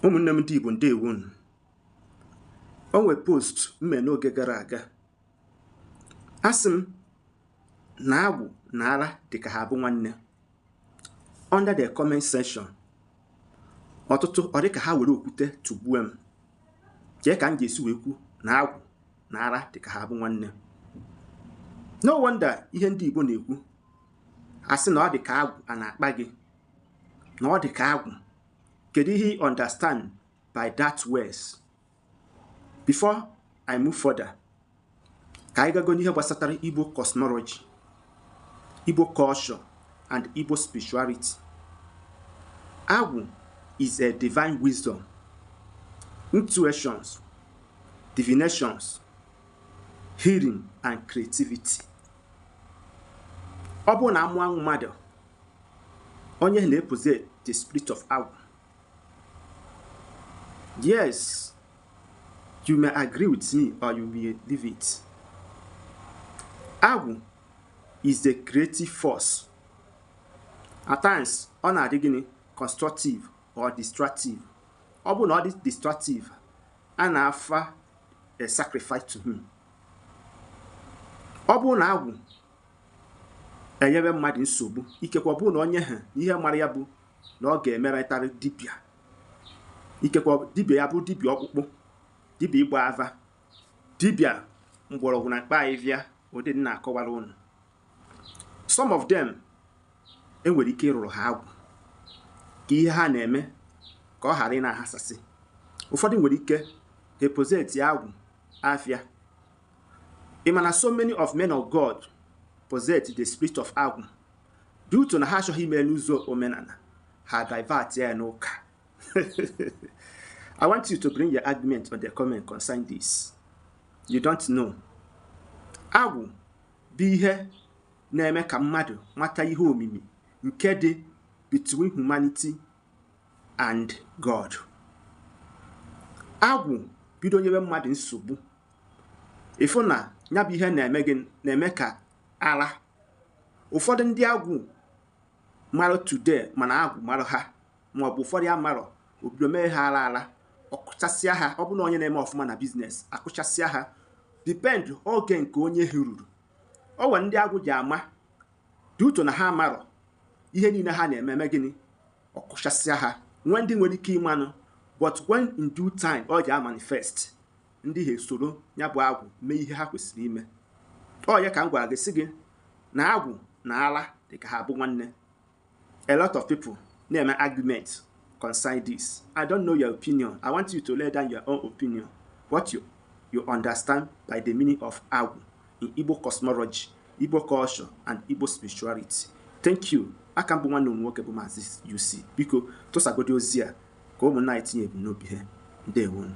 ụmụnne m ndị Igbo ndewo unu o nwe post m me n'oge gara aga asị m na agwụ na ara dị ka ha bụ nwanne under the comment section ọtụtụ ọ dị ka ha were okwute tụgbue m kee ka m ji esi wee kwu na agwụ na ara dị ka ha bụ nwanne no wonder ihe ndị Igbo na-ekwu asị na ọ dị ka agwụ a na-akpa gị na ọ dị ka agwụ kedu ihe you understand by that words before i move further ka anyị gago n'ihe gbasatara igbo cosmology igbo culture and igbo spirituality agwụ is a divine wisdom intuitions divinations healing and creativity ọ bụrụ na a mụọ mmadụ onye na-epossess the spirit of agwụ yes you may agree with me or you may leave it agwụ is the creative force at times ọ na-adị gịnị constructive or destructive ọ bụ na ọ dị destructive a na-offer a sacrifice to him ọ bụrụ na agwụ enyebe mmadụ nsogbu ikekwe ọ bụ na onye ha ihe mara ya bụ na ọ ga-emerịtarị dibịa ikekwe dibịa ya bụ dibịa ọkpụkpụ dibịa ịgba ava dibịa mgbọrọgwụ na mkpa ahịhịa ụdị m na-akọwara unu some of them e nwere ike ịrụrụ ha agwụ ka ihe ha na-eme ka ọ ghara ịna-aghasasị ụfọdụ nwere ike ha epossess agwụ afịa Ị ma na so many of men of God possess the spirit of agwụ due to na ha achọghị ime n'ụzọ omenala ha divert ya n'ụka I want you to bring your argument on the comment concerning this. You don't know. Agwụ bụ ihe na-eme ka mmadụ mata ihe omimi nke dị between humanity and God. Agwụ bido nyewe mmadụ nsogbu ị fụ na ya bụ ihe na-eme gị na-eme ka ara ụfọdụ ndị agwụ mara today ma na agwụ mara ha ma ọ bụ ụfọdụ amarọ o bido mee ha ara ara ọ kụchasịa ha ọ bụrụ na onye na-eme ọfụma na business akụchasịa ha depend oge nke onye ha ruru o nwere ndị agwụ ji ama due to na ha marọ ihe niile ha na-eme gịnị ọ kụchasịa ha nwee ndị nwere ike ịmanụ but when in due time ọ ji amanifest ndị ha esoro ya bụ agwụ mee ihe ha kwesịrị ime ọ ya ka m gwara gị sị gị na agwụ na ala dị ka ha bụ nwanne a lot of people na-eme argument concern this i don't know your opinion i want you to lay down your own opinion what you, you understand by the meaning of agwụ in igbo cosmology igbo culture and igbo spirituality thank you a ka m bụ nwanne unu nwoke bụ maazị UC biko tụsagodi ozi a ka ụmụnna anyị tinye ebumnobi ha ndewo nụ